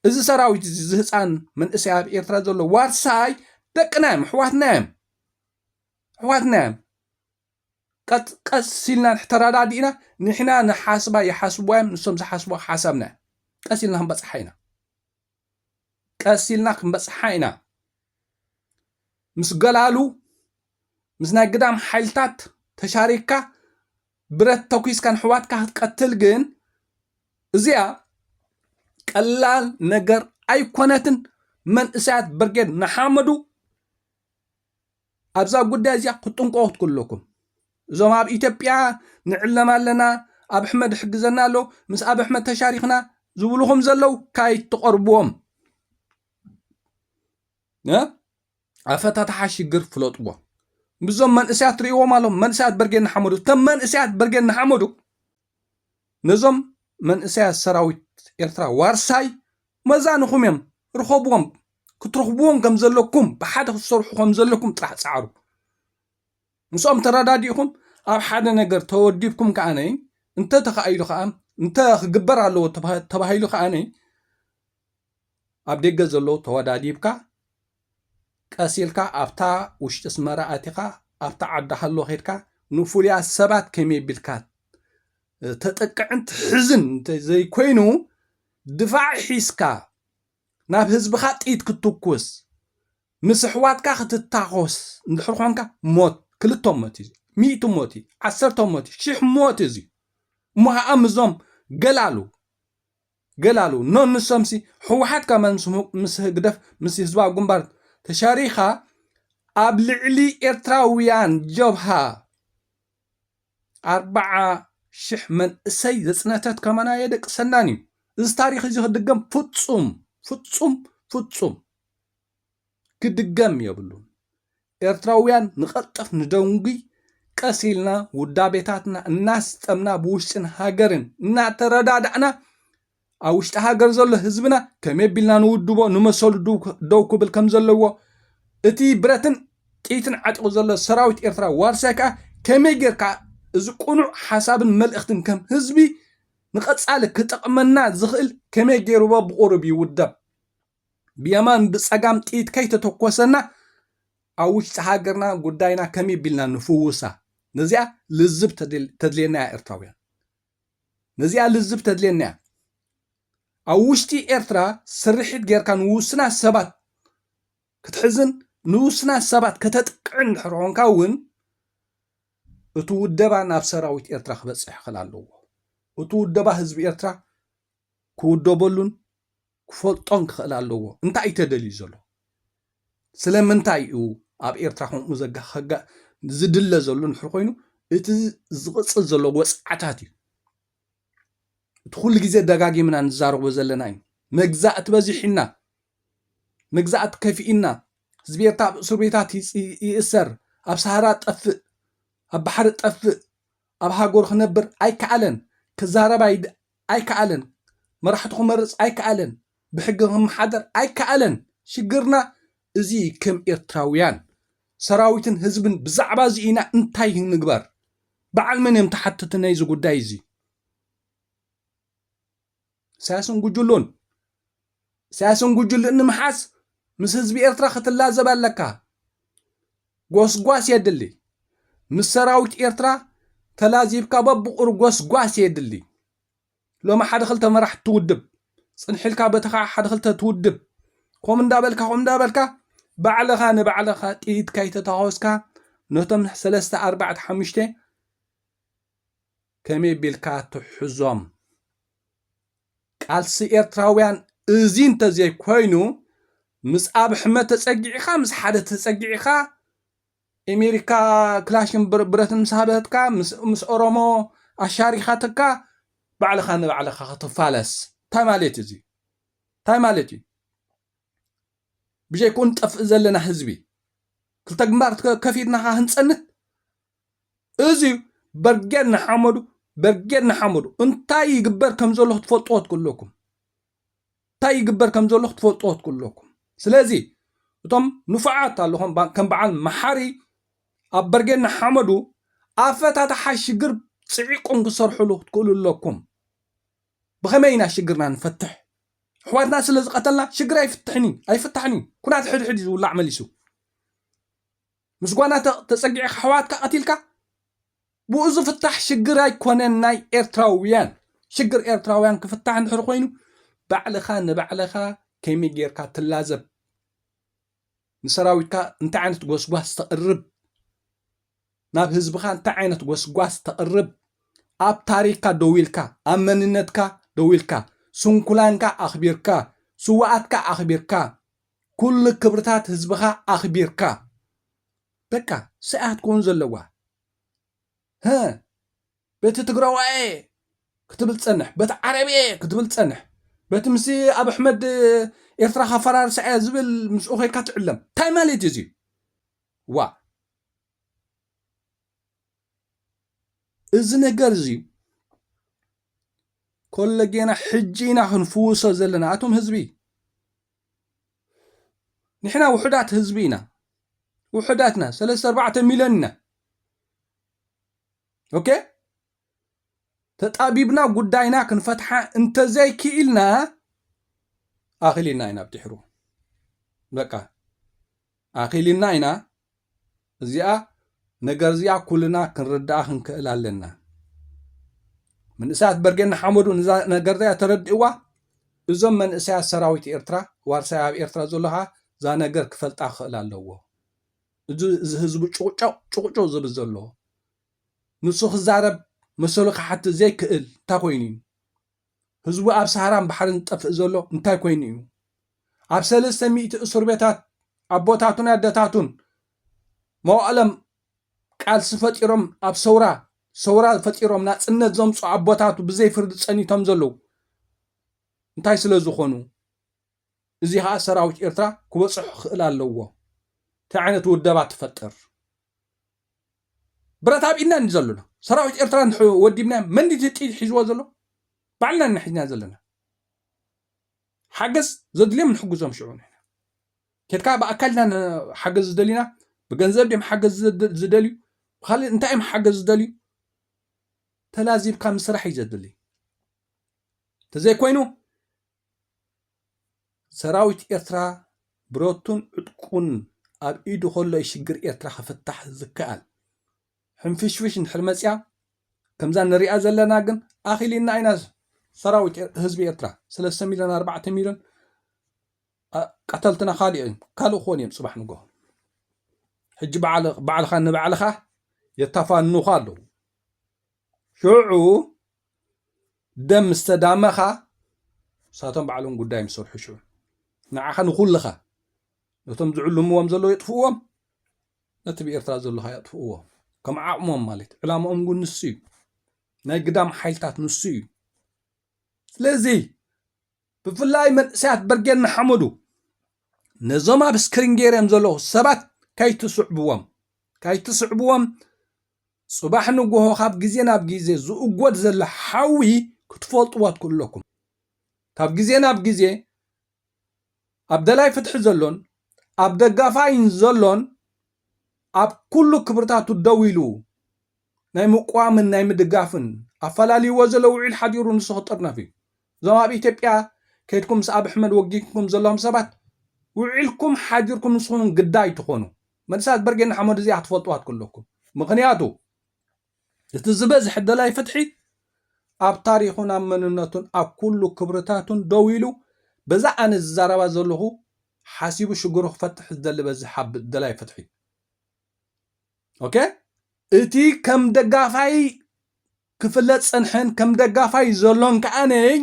እዚ ሰራዊት እዚ ዝህፃን መንእሰይ ኣብ ኤርትራ ዘሎ ዋርሳይ ደቅና እዮም ኣሕዋትና እዮም ኣሕዋትና እዮም ቀስ ኢልና ተረዳዲእና ንሕና ንሓስባ ይሓስብዋ እዮም ንሶም ዝሓስብዋ ሓሳብና ቀስ ኢልና ክንበፅሓ ኢና ቀስ ኢልና ክንበጽሓ ኢና ምስ ገላሉ ምስ ናይ ግዳም ሓይልታት ተሻሪክካ ብረት ተኲስካ ንሕዋትካ ክትቀትል ግን እዚኣ ቀላል ነገር ኣይኮነትን። መንእሰያት ብርጌድ ንሓመዱ ኣብዛ ጉዳይ እዚኣ ክትጥንቀቑ ክትክእሉ ኣለኩም። እዞም ኣብ ኢትዮጵያ ንዕለም ኣለና ኣብ ኣሕመድ ይሕግዘና ኣሎ ምስ ኣብ ኣሕመድ ተሻሪኽና ዝብልኹም ዘለው ካይትቐርብዎም ኣፈታትሓ ሽግር ፍለጥዎ ምስዞም መንእሰያት ትርእዎም ኣለኹም መንእሰያት በርጌድ ንሓመዱ እቶም መንእሰያት በርጌድ ንሓመዱ ነዞም መንእሰያት ሰራዊት ኤርትራ ዋርሳይ መዛኑኹም እዮም ርኸብዎም ክትረኽብዎም ከም ዘለኩም ብሓደ ክትሰርሑ ከም ዘለኩም ጥራሕ ጻዕሩ ምስኦም ተረዳዲእኹም ኣብ ሓደ ነገር ተወዲብኩም ከኣነ እንተ ተኻኢሉ ከኣ እንተ ክግበር ኣለዎ ተባሂሉ ከኣነ ኣብ ደገ ዘለዉ ተወዳዲብካ ቀስ ኢልካ ኣብታ ውሽጢ ኣስመራ ኣቲኻ ኣብታ ዓዲ ሃሎ ከድካ ንፉሉያት ሰባት ከመይ ቢልካ ተጥቅዕን ትሕዝን እንተ ዘይኮይኑ ድፋዕ ሒዝካ ናብ ህዝብኻ ጥይት ክትትኩስ ምስ ኣሕዋትካ ክትታኾስ እንድሕር ኾንካ ሞት ክልተ ሞት እዩ ሚእቲ ሞት እዩ ዓሰርተ ሞት እዩ ሽሕ ሞት እዩ እሞ ኸዓ ምዞም ገላሉ ገላሉ ን ንሶምሲ ሕዋሓት ከማን ምስ ህግደፍ ምስ ህዝባዊ ግንባር ተሻሪካ ኣብ ልዕሊ ኤርትራውያን ጀብሃ ኣርባዓ ሽሕ መንእሰይ ዘጽነተት ከማን ኣየደቅሰናን እዩ እዚ ታሪክ እዚ ክድገም ፍጹም ፍጹም ፍጹም ክድገም የብሉን ኤርትራውያን ንቐልጥፍ ንደንጉይ ቀስ ኢልና ውዳቤታትና እናስጠምና ብውሽጥን ሃገርን እናተረዳዳእና ኣብ ውሽጢ ሃገር ዘሎ ህዝብና ከመይ ቢልና ንውድቦ ንመሰሉ ደው ክብል ከም ዘለዎ እቲ ብረትን ጥይትን ዓጢቑ ዘሎ ሰራዊት ኤርትራ ዋርሳይ ከዓ ከመይ ጌርካ እዚ ቅኑዕ ሓሳብን መልእኽትን ከም ህዝቢ ንቐጻሊ ክጠቕመና ዝኽእል ከመይ ጌርዎ ብቑሩብ ይውደብ ብየማን ብጸጋም ጥይት ከይተተኮሰና ኣብ ውሽጢ ሃገርና ጉዳይና ከመይ ቢልና ንፍውሳ ነዚኣ ልዝብ ተድልየና እያ ኤርትራውያን ነዚኣ ልዝብ ተድልየና እያ ኣብ ውሽጢ ኤርትራ ስርሒት ጌርካ ንውስናት ሰባት ክትሕዝን ንውስናት ሰባት ከተጥቅዕን ድሕር ኾንካ እውን እቲ ውደባ ናብ ሰራዊት ኤርትራ ክበፅሕ ይኽእል ኣለዎ እቲ ውደባ ህዝቢ ኤርትራ ክውደበሉን ክፈልጦን ክኽእል ኣለዎ እንታይ እዩ ተደልዩ ዘሎ ስለምንታይ እዩ ኣብ ኤርትራ ከምኡ ዘጋኸጋ ዝድለ ዘሎ ንሕር ኮይኑ እቲ ዝቕፅል ዘሎ ወፅዓታት እዩ እቲ ኩሉ ግዜ ደጋጊምና ንዛረቦ ዘለና እዩ መግዛእቲ በዚሕና መግዛእቲ ከፊእና ህዝቢ ኤርትራ ኣብ እስር ቤታት ይእሰር ኣብ ሳሃራ ጠፍእ ኣብ ባሕሪ ጠፍእ ኣብ ሃገሩ ክነብር ኣይከኣለን፣ ክዛረብ ኣይከኣለን፣ መራሕቱ ክመርጽ ኣይከኣለን፣ ብሕጊ ክመሓደር ኣይከኣለን፣ ሽግርና እዚ እዩ ከም ኤርትራውያን ሰራዊትን ህዝብን ብዛዕባ እዚ ኢና እንታይ ንግበር በዓል መን እዮም ተሓተቲ ናይዚ ጉዳይ እዚ። ኢሳያስን ጉጅሉን ኢሳያስን ጉጅሉን ንምሓዝ ምስ ህዝቢ ኤርትራ ክትላዘብ ኣለካ ጎስጓስ የድሊ ምስ ሰራዊት ኤርትራ ተላዚብካ በብቑር ጎስጓስ የድሊ ሎሚ ሓደ ክልተ መራሕ ትውድብ ጽንሒልካ በቲ ከዓ ሓደ ክልተ ትውድብ ከምኡ እንዳበልካ ከምኡ እንዳበልካ ባዕልኻ ንባዕልኻ ጥይት ካይተታኮስካ ነቶም ሰለስተ ኣርባዕተ ሓሙሽተ ከመይ ቢልካ ትሕዞም ቃልሲ ኤርትራውያን እዚ እንተዘይ ኮይኑ ምስ ኣብሕመ ተጸጊዕኻ ምስ ሓደ ተጸጊዕኻ ኤሜሪካ ክላሽን ብረትን ምስ ሃበትካ ምስ ኦሮሞ ኣሻሪኻትካ ባዕልኻ ንባዕልኻ ክትፋለስ እንታይ ማለት እዩ እዚ እንታይ ማለት እዩ ብጀይክኡ ንጠፍእ ዘለና ህዝቢ ክልተ ግንባር ከፊትና ኸ ህንጸንት እዚዩ በርጌድ ንሓመዱ በርጌድ ንሓመዱ እንታይ ይግበር ከም ዘሎ ክትፈልጥዎ ትክእለኩም እንታይ ይግበር ከም ዘሎ ክትፈልጥዎ ትክእለኩም ስለዚ እቶም ንፉዓት ኣለኹም ከም በዓል መሓሪ ኣብ በርጌድ ንሓመዱ ኣፈታትሓ ሽግር ፅዒቆም ክሰርሕሉ ክትክእሉ ኣለኩም ብኸመይ ኢና ሽግርና ንፈትሕ ኣሕዋትና ስለ ዝቐተልና ሽግር ኣይፍትሕን እዩ ኣይፍታሕን እዩ ኩናት ሕድሕድ እዩ ዝውላዕ መሊሱ ምስ ጓና ተጸጊዕካ ኣሕዋትካ ቀቲልካ ብኡ ዝፍታሕ ሽግር ኣይኮነን ናይ ኤርትራውያን ሽግር ኤርትራውያን ክፍታሕ እንድሕር ኮይኑ ባዕልኻ ንባዕልኻ ከመይ ጌርካ ትላዘብ ንሰራዊትካ እንታይ ዓይነት ጎስጓስ ተቕርብ ናብ ህዝብኻ እንታይ ዓይነት ጎስጓስ ተቕርብ ኣብ ታሪክካ ደው ኢልካ ኣብ መንነትካ ደው ኢልካ ስንኩላንካ ኣኽቢርካ ስዋኣትካ ኣኽቢርካ ኩሉ ክብርታት ህዝብኻ ኣኽቢርካ በቃ ሰኣያ ክትከውን ዘለዋ ህ በቲ ትግራዋየ ክትብል ፀንሕ በቲ ዓረብየ ክትብል ፀንሕ በቲ ምስ ኣብ ኣሕመድ ኤርትራ ካፈራርሳ እያ ዝብል ምስኡ ኮይንካ ትዕለም እንታይ ማለት እዩ እዚ ዋ እዚ ነገር እዚ ኮለጌና ሕጂ ኢና ክንፍውሶ ዘለና ኣቶም ህዝቢ ንሕና ውሑዳት ህዝቢ ኢና ውሑዳት ኢና ሰለስተ ኣርባዕተ ሚልዮን ኢና ኦኬ ተጣቢብና ጉዳይና ክንፈትሓ እንተዘይክኢልና ኣኺልና ኢና ብድሕሩ በቃ ኣኺሊና ኢና እዚኣ ነገር እዚኣ ኩልና ክንርድኣ ክንክእል ኣለና ምንእሰያት በርጌድ ንሓመዱ ንዛ ነገር እዚኣ ተረድእዋ እዞም መንእሰያት ሰራዊት ኤርትራ ዋርሳይ ኣብ ኤርትራ ዘሎ ኸዓ እዛ ነገር ክፈልጣ ክኽእል ኣለዎ እዚ እዚ ህዝቢ ጩቕጨቕ ጩቕጩቕ ዝብል ዘሎ ንሱ ክዛረብ መሰሉ ክሓትት ዘይክእል እንታይ ኮይኑ እዩ ህዝቡ ኣብ ሰሃራን ባሕርን ዝጠፍእ ዘሎ እንታይ ኮይኑ እዩ? ኣብ ሰለስተ ሚእቲ እሱርቤታት ኣቦታቱን ኣደታቱን መዋእሎም ቃልሲ ፈጢሮም ኣብ ሰውራ ሰውራ ፈጢሮም ናጽነት ዘምጹ ኣቦታቱ ብዘይ ፍርዲ ጸኒቶም ዘለዉ እንታይ ስለዝኾኑ? እዚ ከኣ ሰራዊት ኤርትራ ክበጽሖ ክኽእል ኣለዎ ታይ ዓይነት ውደባ ትፈጥር ብረት ኣብ ኢድና እንዲ ዘሎ ሰራዊት ኤርትራ እንድሕር ወዲብናዮም መን ድዩ እቲ ጥይት ሒዝዎ ዘሎ ባዕልና ኢና ሒዝና ዘለና ሓገዝ ዘድልዮም ንሕግዞም ሽዑ ንሕና ኬድካ ብኣካል ኢና ሓገዝ ዝደሊና ብገንዘብ ድም ሓገዝ ዝደልዩ ብካልእ እንታይ እዮም ሓገዝ ዝደልዩ ተላዚብካ ምስራሕ እዩ ዘድሊ እንተዘይኮይኑ ሰራዊት ኤርትራ ብረቱን ዕጥቁን ኣብ ኢዱ ከሎ እዩ ሽግር ኤርትራ ክፍታሕ ዝከኣል። ሕንፍሽፍሽ እንድሕር መፅያ ከምዛ ንሪኣ ዘለና ግን ኣኺሊና ኢና ሰራዊት ህዝቢ ኤርትራ ሰለስተ ሚልዮን ኣርባዕተ ሚልዮን ቀተልትና ካልእ እዮም ካልእ ክኾኑ እዮም ፅባሕ ንግሆ ሕጂ ባዕልኻ ንባዕልኻ የታፋንኑኻ ኣለዉ ሽዑ ደም ምስ ተዳመኻ ንሳቶም ባዕሎም ጉዳዮም ዝሰርሑ ሽዑ ንዓኻ ንኹልኻ ነቶም ዝዕልምዎም ዘለዉ የጥፍእዎም ነቲ ብኤርትራ ዘለኻ የጥፍእዎ ከም ዓቕሞም ማለት ዕላማኦም እውን ንሱ እዩ ናይ ግዳም ሓይልታት ንሱ እዩ ስለዚ ብፍላይ መንእሰያት በርጌድ ንሓመዱ ነዞም ኣብ ስክሪን ገይረም ዘለኹ ሰባት ካይትስዕብዎም ካይትስዕብዎም ጽባሕ ንጎሆ ካብ ግዜ ናብ ግዜ ዝእጎድ ዘሎ ሓዊ ክትፈልጥዎ ትክእለኩም። ካብ ግዜ ናብ ግዜ ኣብ ደላይ ፍትሒ ዘሎን ኣብ ደጋፋይን ዘሎን ኣብ ኩሉ ክብርታቱ ደው ኢሉ ናይ ምቅዋምን ናይ ምድጋፍን ኣፈላልይዎ ዘሎ ውዒል ሓዲሩ ንሱ ክጥርነፍ እዩ። እዞም ኣብ ኢትዮጵያ ከይድኩም ምስ ኣብ ሕመድ ወጊንኩም ዘለኹም ሰባት ውዒልኩም ሓዲርኩም ንስኹም ግዳ ኣይትኾኑ መልሳት በርጌድ ንሓመዱ እዚኣ ክትፈልጥዋ ትክለኩም ምክንያቱ እቲ ዝበዝሐ ደላይ ፍትሒ ኣብ ታሪኹን ኣብ መንነቱን ኣብ ኩሉ ክብርታቱን ደው ኢሉ በዛ ኣነ ዝዛረባ ዘለኹ ሓሲቡ ሽግሩ ክፈትሕ ዝደሊ በዚ ሓብ ደላይ ፍትሒ ኦኬ እቲ ከም ደጋፋይ ክፍለጥ ዝጸንሐን ከም ደጋፋይ ዘሎን ከኣ ነኝ።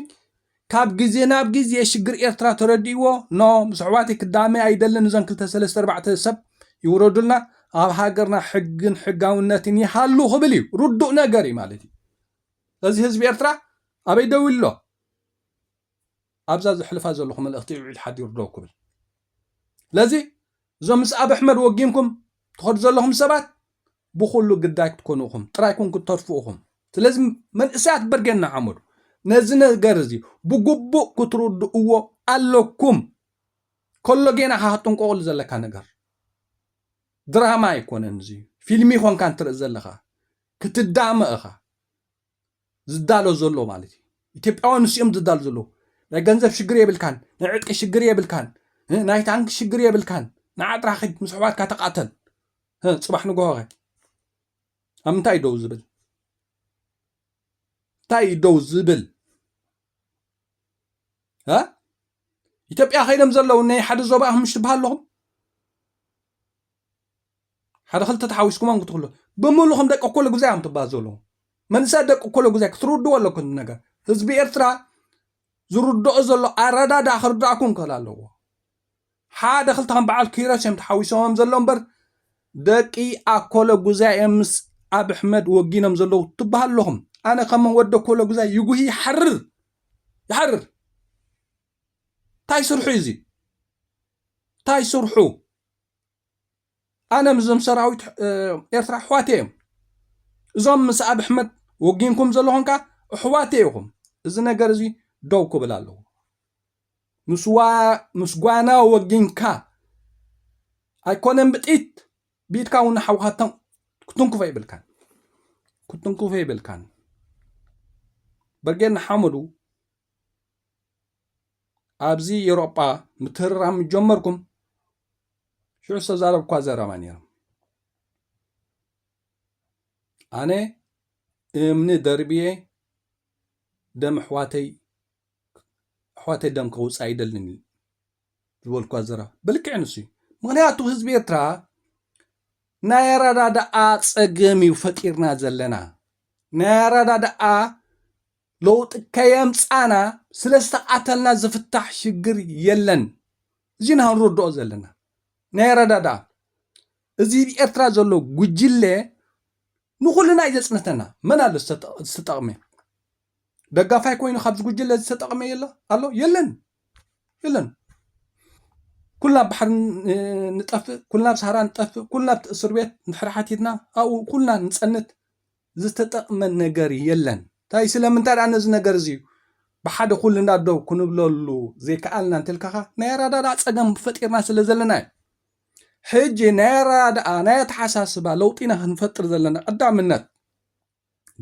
ካብ ግዜ ናብ ግዜ ሽግር ኤርትራ ተረዲእዎ ን ምስ ኣሕዋተይ ክዳመይ ኣይደልን እዞን ክልተ ሰለስተ ኣርባዕተ ሰብ ይውረዱልና ኣብ ሃገርና ሕግን ሕጋውነትን ይሃሉ ክብል እዩ ርዱእ ነገር እዩ ማለት እዩ ስለዚ ህዝቢ ኤርትራ ኣበይ ደው ኢሉ ኣሎ ኣብዛ ዘሕልፋ ዘለኹ መልእኽቲ ውዒል ሓዲሩ ደው ክብል ስለዚ እዞም ምስ ኣብ ኣሕመድ ወጊንኩም ትኸዱ ዘለኹም ሰባት ብኹሉ ግዳይ ክትኮኑ እኹም ጥራይ ኩን ክትተርፉ እኹም ስለዚ መንእሰያት በርጌድ ንሓመዱ ነዚ ነገር እዚ ብግቡእ ክትርድእዎ ኣለኩም ከሎ ጌና ካ ክትጥንቀቕሉ ዘለካ ነገር ድራማ ኣይኮነን እዚ ፊልሚ ኮንካ እንትርኢ ዘለኻ ክትዳመ እኻ ዝዳሎ ዘሎ ማለት እዩ ኢትዮጵያውያን ንሱ እዮም ዝዳሉ ዘለዉ ናይ ገንዘብ ሽግር የብልካን ናይ ዕጥቂ ሽግር የብልካን ናይ ታንኪ ሽግር የብልካን ንዓጥራ ኸድ ምስ ኣሕዋትካ ተቃተል ፅባሕ ንግሆ ኸ ኣብ ምንታይ ደው ዝብል እንታይ እዩ ደው ዝብል ኢትዮጵያ ከይዶም ዘለዉ ናይ ሓደ ዞባ ኣህምሽ ትበሃለኹም ሓደ ክልተ ተሓዊስኩም ኣንክትክሉ ብምሉኹም ደቂ እኮለ ጉዛይ እዮም ትባሃሉ ዘለኹም መንእሰያት ደቂ እኮለ ጉዛይ ክትርድዎ ኣለኩም እቲ ነገር ህዝቢ ኤርትራ ዝርድኦ ዘሎ ኣረዳድኣ ክርድኣኩም ክእል ኣለዎ ሓደ ክልተ ከም በዓል ኪሮስ እዮም ተሓዊሶም ዘሎ እምበር ደቂ ኣኮለ ጉዛይ እዮም ምስ ኣብ ኣሕመድ ወጊኖም ዘለዉ ትበሃል ኣለኹም ኣነ ከም ወዲ ኣኮለ ጉዛይ ይጉሂ ይሓርር ይሓርር እንታይ ስርሑ እዩ እዚ እንታይ ስርሑ ኣነ ምስዞም ሰራዊት ኤርትራ ኣሕዋተይ እዮም እዞም ምስ ኣብ ኣሕመድ ወጊንኩም ዘለኹም ከዓ ኣሕዋተይ ኢኹም እዚ ነገር እዚ ደው ክብል ኣለዎ ምስ ጓና ወጊንካ ኣይኮነን ብጥይት ብኢድካ እውን ሓውካ ክትንክፎ ይብልካን ክትንክፎ ይብልካን በርጌድ ንሓመዱ ኣብዚ ኤውሮጳ ምትርራም ምስ ጀመርኩም ሽዑ ዝተዛረብኳ ዘረባ ነይሮም ኣነ እምኒ ደርብየ ደም ኣሕዋተይ ኣሕዋተይ ደም ከውፅእ ኣይደልን ዝበልኳ ዘረባ ብልክዕ ንሱ እዩ ምክንያቱ ህዝቢ ኤርትራ ናይ ኣረዳድኣ ፀገም እዩ ፈጢርና ዘለና ናይ ኣረዳድኣ ለውጢ ከየምጻና ስለ ዝተቃተልና ዝፍታሕ ሽግር የለን እዚ ኢና ክንርድኦ ዘለና ናይ ኣረዳድኣ እዚ ብ ኤርትራ ዘሎ ጉጅለ ንኩልና እዩ ዘጽንተና መን ኣሎ ዝተጠቅመ ደጋፋይ ኮይኑ ካብዚ ጉጅለ ዝተጠቅመ የለ ኣሎ የለን የለን ኩልና ኣብ ባሕሪ ንጠፍእ ኩልና ኣብ ሳህራ ንጠፍእ ኩልና ኣብቲ እስር ቤት ንድሕሪ ሓቲትና ኣብኡ ኩልና ንጸንት ዝተጠቕመ ነገር የለን። ታይ ስለምንታይ ድኣ ነዚ ነገር እዚ ብሓደ ኩልና ደው ክንብለሉ ዘይከኣልና እንተልካኻ ናይ ኣረዳድኣ ጸገም ፈጢርና ስለ ዘለና እዩ። ሕጂ ናይ ኣረዳድኣ ናይ ኣተሓሳስባ ለውጢ ኢና ክንፈጥር ዘለና ቀዳምነት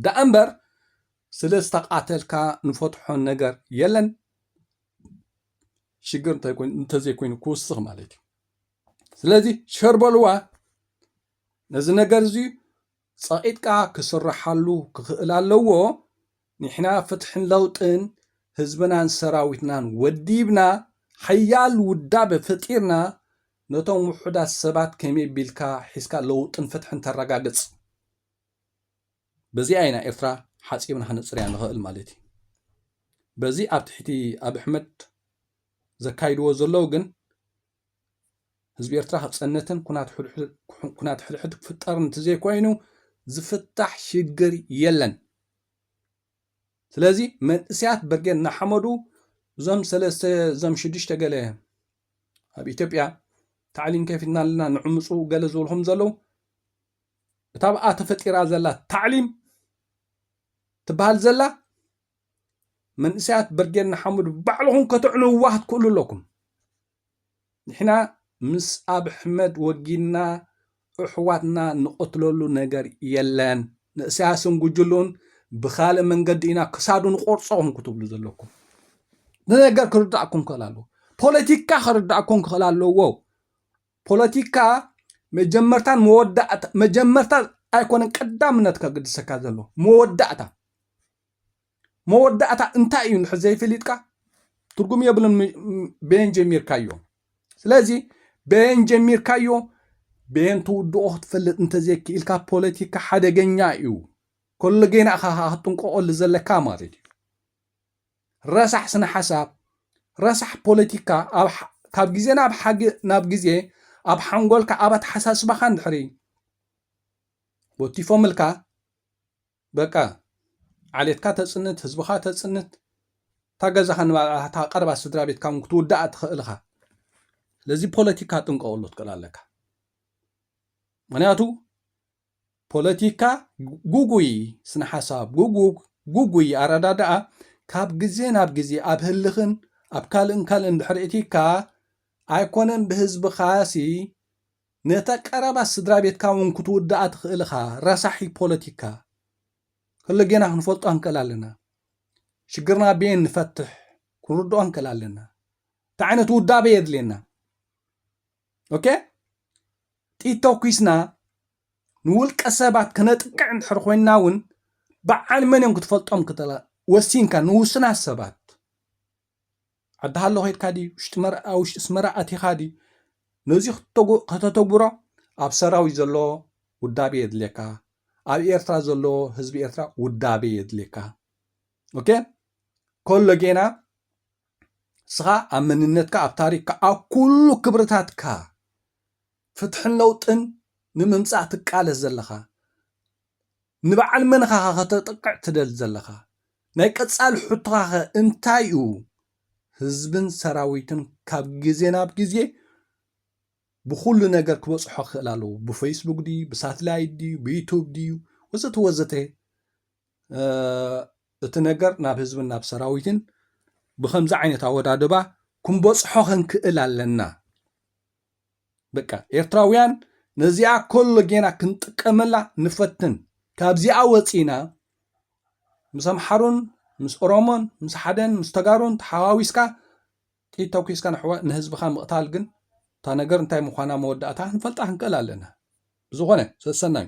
ደኣ እምበር ስለ ዝተቓተልካ ንፈትሖ ነገር የለን። ሽግር እንተዘይኮይኑ ክውስኽ ማለት እዩ። ስለዚ ሸርበልዋ ነዚ ነገር እዚ ጸቂጥካ ክስርሓሉ ክኽእል ኣለዎ ኒሕና ፍትሕን ለውጥን ህዝብናን ሰራዊትናን ወዲብና ሓያል ውዳበ ፈጢርና ነቶም ውሑዳት ሰባት ከመይ ቢልካ ሒዝካ ለውጥን ፍትሕን ተራጋግጽ በዚኣ ኢና ኤርትራ ሓጺብና ክነጽርያ ንኽእል ማለት እዩ በዚ ኣብ ትሕቲ ኣብሕመድ ዘካይድዎ ዘለው ግን ህዝቢ ኤርትራ ክጸነትን ኩናት ሕድሕድ ክፍጠርን እንተዘይኮይኑ ዝፍታሕ ሽግር የለን። ስለዚ መንእሰያት ብርጌድ ንሓመዱ እዞም ሰለስተ እዞም ሽዱሽተ ገለ ኣብ ኢትዮጵያ ታዕሊም ከፊትና ኣለና ንዕምፁ ገለ ዝብልኹም ዘለዉ እታ ብኣ ተፈጢራ ዘላ ታዕሊም ትበሃል ዘላ መንእሰያት ብርጌድ ንሓመዱ ባዕልኹም ከተዕንውዋ ክትክእሉ ኣለኩም ንሕና ምስ ኣብሕመድ ወጊንና እሕዋትና ንቐትለሉ ነገር የለን ንእስያስን ጉጅሉን ብካልእ መንገዲ ኢና ክሳዱ ንቆርፆኹም ክትብሉ ዘለኩም ንነገር ክርዳእኩም ክኽእል ኣለዎ ፖለቲካ ክርዳእኩም ክኽእል ኣለዎ ፖለቲካ መጀመርታን መወዳእታ መጀመርታ ኣይኮነን ቀዳምነት ከግድሰካ ዘሎ መወዳእታ መወዳእታ እንታይ እዩ ንድሕር ዘይፈሊጥካ ትርጉም የብሉን በየን ጀሚርካዮ ስለዚ በየን ጀሚርካዮ በየን ትውድኦ ክትፈልጥ እንተዘይክኢልካ ፖለቲካ ሓደገኛ እዩ ከሎ ጌና እኻ ክትጥንቀቐሉ ዘለካ ማለት እዩ ረሳሕ ስነ ሓሳብ ረሳሕ ፖለቲካ ካብ ግዜ ናብ ሓጊ ናብ ግዜ ኣብ ሓንጎልካ ኣብ ኣተሓሳስባኻ እንድሕሪ ወቲፎምልካ በቃ ዓሌትካ ተጽንት ህዝብኻ ተጽንት እታ ገዛኻ ንባዕላ እታ ቀረባ ስድራቤትካ ውን ክትውድኣ ትኽእል ኢኻ ስለዚ ፖለቲካ ጥንቀቐሉ ትክእል ኣለካ ምክንያቱ ፖለቲካ ጉጉይ ስነ ሓሳብ ጉጉግ ጉጉይ ኣረዳድኣ ካብ ግዜ ናብ ግዜ ኣብ ህልኽን ኣብ ካልእን ካልእን ድሕሪ እቲካ ኣይኮነን ብህዝብኻሲ ነታ ቀረባ ስድራቤትካ ውን ክትውድኣ ትኽእል እኻ ረሳሒ ፖለቲካ። ከሎጌና ክንፈልጦ ንክእል ኣለና ሽግርና ቤን ንፈትሕ ክንርድኦ ንክእል ኣለና እንታይ ዓይነት ውዳበ የድልየና ኦኬ ጥይት ተኩስና ንውልቀ ሰባት ክነጥቅዕ እንድሕር ኮይንና ውን በዓል መን እዮም ክትፈልጦም ክትላ ወሲንካ ንውሱናት ሰባት ዓዲ ሃሎ ከድካ ድዩ ኣብ ውሽጢ ኣስመራ ኣቲኻ ድዩ ነዚ ከተተግብሮ ኣብ ሰራዊት ዘሎ ውዳቤ የድልየካ ኣብ ኤርትራ ዘሎ ህዝቢ ኤርትራ ውዳቤ የድልየካ ኦኬ ከሎ ጌና ንስኻ ኣብ መንነትካ ኣብ ታሪክካ ኣብ ኩሉ ክብርታትካ ፍትሕን ለውጥን ንምምፃእ ትቃለስ ዘለኻ ንበዓል መንኻኸ ከተጥቅዕ ትደሊ ዘለኻ? ናይ ቀጻሊ ሕቶኻኸ እንታይ'ዩ? ህዝብን ሰራዊትን ካብ ግዜ ናብ ግዜ ብኹሉ ነገር ክበጽሖ ክኽእል ኣለዎ። ብፌስቡክ ድዩ፣ ብሳትላይት ድዩ፣ ብዩቱብ ድዩ ወዘተ ወዘተ እቲ ነገር ናብ ህዝብን ናብ ሰራዊትን ብከምዚ ዓይነት ኣወዳድባ ክንበጽሖ ክንክእል ኣለና። በቃ ኤርትራውያን ነዚኣ ኮሎ ጌና ክንጥቀመላ ንፈትን ካብዚኣ ወፂና ምስ ኣምሓሩን ምስ ኦሮሞን ምስ ሓደን ምስ ተጋሩን ተሓዋዊስካ ጥይት ተኩስካ ንህዝብኻ ምቕታል ግን እታ ነገር እንታይ ምዃና መወዳእታ ክንፈልጣ ክንክእል ኣለና ብዝኾነ ሰሰናዩ